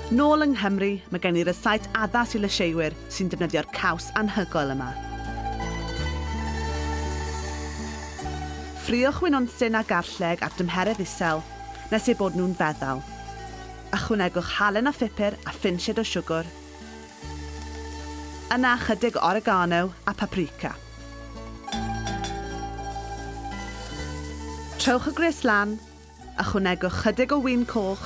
Nôl yng Nghymru, mae gen i rysáit addas i lysieuwyr sy'n defnyddio'r caws anhygoel yma. Ffrio chwynonsin a garlleg ar dymheredd isel, nes eu bod nhw'n feddal. Ychwanegwch halen a phupur a phinsied o siwgr. Yna ychydig oregano a paprika. Trowch y gwres lan, Ychwanegwch chydig o win coch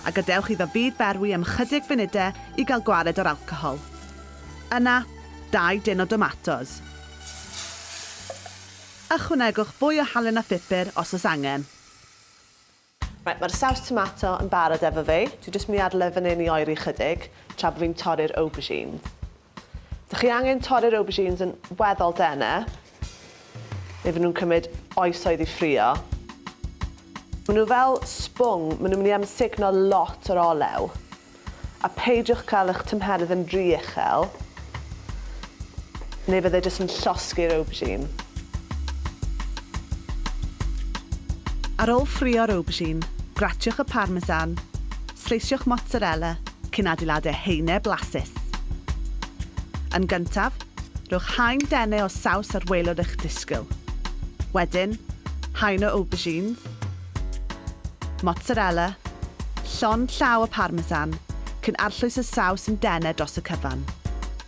a gadewch iddo fyd berwi am ychydig funudau i gael gwared o'r alcohol. Yna, dau dân o domatos. Ychwanegwch fwy o halen a phupur os oes angen. Reit, mae'r saws tomato yn barod efo fi. Dwi jyst mynd i adael e fan hyn i oeri ychydig tra bod fi'n torri'r aubergines. Dych chi angen torri'r aubergines yn weddol dene, neu fy nhw'n cymryd oesoedd i ffrio. Maen nhw fel sbwng, maen nhw'n mynd i amsugno lot o'r olew. A peidiwch cael eich tymheredd yn rhy uchel, neu fydde jyst yn llosgi'r aubergine. Ar ôl ffrio'r aubergine, gratiwch y parmesan, Sleisio'ch mozzarella cyn adeiladu haenau blasus. Yn gyntaf, rhowch haen dene o saws ar waelod eich disgyl. Wedyn, haen o aubergines, mozzarella, llond llaw o parmesan, cyn arllwys y saws yn dene dros y cyfan.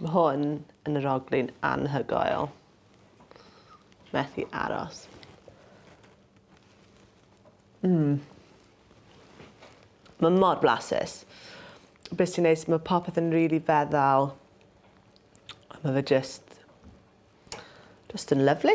Mae hwn yn yr oglin anhygoel. Methu aros. Mm. Mae mor blasus. Beth sy'n neis, mae popeth yn rili really feddal. Mae fe just Just yn lyfli.